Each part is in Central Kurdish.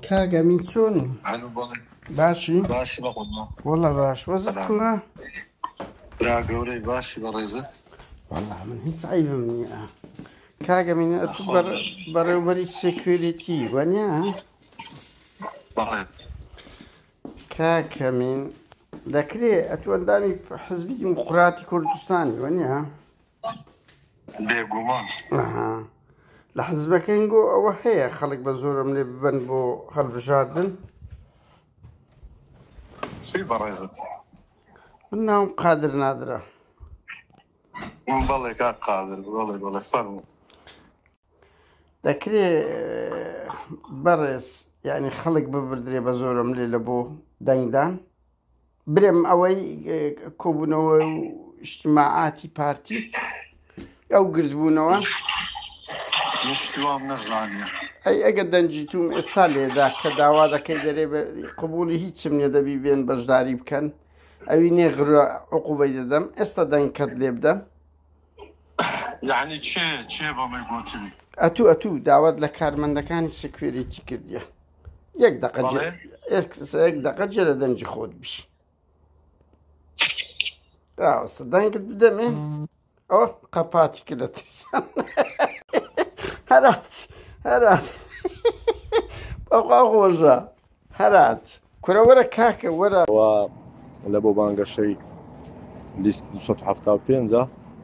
کاک ئەمین چۆنی الو بەڵێ باشی باشی بە قوربان والله باش وەزت سلام کوڕە برا گەورەی باشی بە ڕێزت والله من هیچ عیبم نییە کاک ئەمین ئەتوو بەڕ ناخۆش بێژ بەڕێوبەری سکوێریتی وەنیا بەڵێ کاک ئەمین دەکرێ ئەتوو ئەندامی حزبی دیموقراتی کوردستانی وەنیا بێگومان ئەها لە حزبەکەین گۆ ئەوە هەیە خەڵک بە زۆرم لێ ببەن بۆ هەڵبژاردن چی بەڕێزت من ناوم قادر نادرا بەڵێ کا قادر بەڵێ بەڵێ فەرمو دەکرێ بەڕێز یعنی خەڵک ببردرێ بە زۆرم لێ لە بۆ دەنگدان برێم ئەوەی کۆبوونەوە و شتماعاتی پارتی ئەو گردبوونەوە شتوام نەزانە ئەی ئەگە دەنجی توم ئێستا لێدا کە داوا دەکەی دەرێ قوبولی هیچم نیە دەبی بێن بەشداری بکەن ئەوی نێغرە عقوبەی دەدەم ئێستا دەنگکەت لێ بدەم یعنی چێ چێ بەڵێ گوتنی ئەتوو ئەتوو داوات لە کارمەندەکانی سکوێریتی کردیە یەک دەقە جێ- بەڵێ. یەک- یەک دەقە جێ لە دەنگی خۆت بیش ئاوسە دەنگت بدەمێ ئەوە قەپاتی کرد لە ترسان هەرات هەرات بەخوا خۆشە هەرات کورە وەرە کاکە وەرە و لە بۆ بانگەشەی لیست 275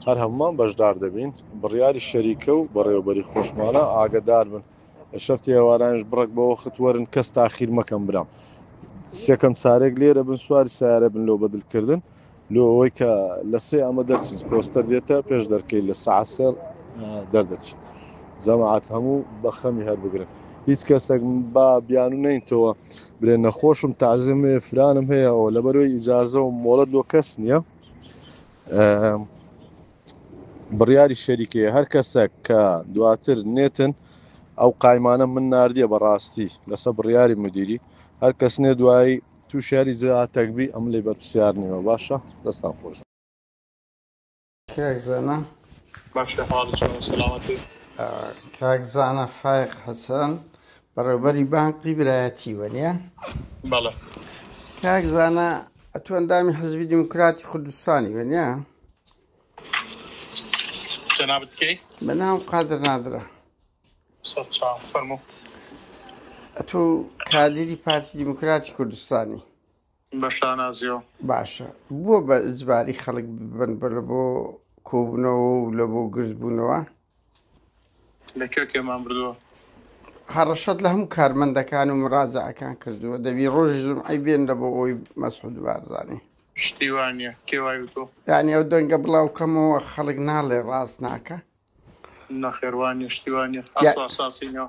هەر هەمومان بەشدار دەبین بڕیاری شەریکە و بەڕێوەبەری خۆشمانە ئاگدار بن شەفتی ئێوارانش بڕەک بە وەخت وەرن کەس تاخیر مەکەم برام سێکەم سارێک لێرە بن سواری سارە بن لۆ بەدلکردن لۆ ئەوەی کە لە سێ ئەمە دەرچین کۆستەر دێتە پێش دەرکەی لە ساسەر دەردەچی جەماعات هەموو بەخەمی هەر بگرن هیچ کەسێک با بیانو نینتەوە برێن نەخۆشم تازم فرانم هەیەەوە لەبەرەوەی ئیجاازە و مۆڵەت لۆ کەس نییە بڕیاری شەریکەیە هەر کەسەک کە دواتر نێتن ئەو قایمانە من نردە بەڕاستی لەسە بڕیاری مدیری هەر کەس نێ دوایی تو شاری زیاتەکبی ئەم لی بەرپسیار نیمە باشە دەستان خۆش کاک زانا باشە حاڵ چۆنە سەلامەتی کاک زانا فایق حەسەن بەڕێوبەری بانقی برایەتی وەنیە بەڵێ کاک زانا ئەتوەندامی حزبی دیموکراتی کوردستانی وەنیە جنابت کی؟ من هم قادر نادرە فرمو ئەتو کادری پارتی دیموکراتی کوردستانی بەشانازیۆ باشە بووە بە ئجباری خەڵک ببن بە لە بۆ کۆبنەوە و لە بۆ گردبوونەوە لە کوێ کێمان بردووە؟ هەڕەشەت لە هەموو کارمەندەکان و مڕازەکان کردووە دەبی ڕۆژی زومعی بێن لە بۆ ئەوی مەسعود بارزانانی شتی وانە کێ وای وتۆ یانی ئەو دەنگە بڵاو کەمەوە خەڵک ناڵێ ڕاست ناکە نەخێوانە شتیوانە ئاساسینەوە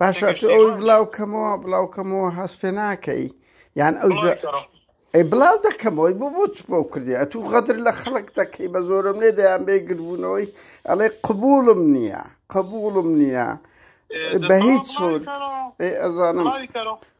باشە تۆ ئەوی بڵاو کەمەوە بڵاو کەمەوە هەست پێ ناکەی یان ئەو ئەی بڵاو دەکەمەوەی بۆ بۆ بۆ کردی ئەتو غەدر لە خەڵک دەکەی بە زۆرم لێ دەیان بێ گربوونەوەی ئەڵێ قبولم نییە قبولم نییە بە هیچ ئەزانم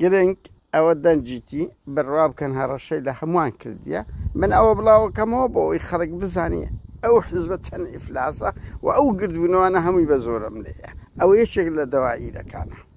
گرنگ ئەوە دەنگیتی بڕوا بکەن هەڕەشەی لە هەمووان کردیە من ئەوە بڵاوەکەمەوە بۆ ئەوی خەڵک بزانیە ئەو حزبە چەند ئیفلاسە و ئەو گردبوونەوانە هەمووی بە زۆرەملێیە ئەوە یەکێک لە دەوائیرەکانە.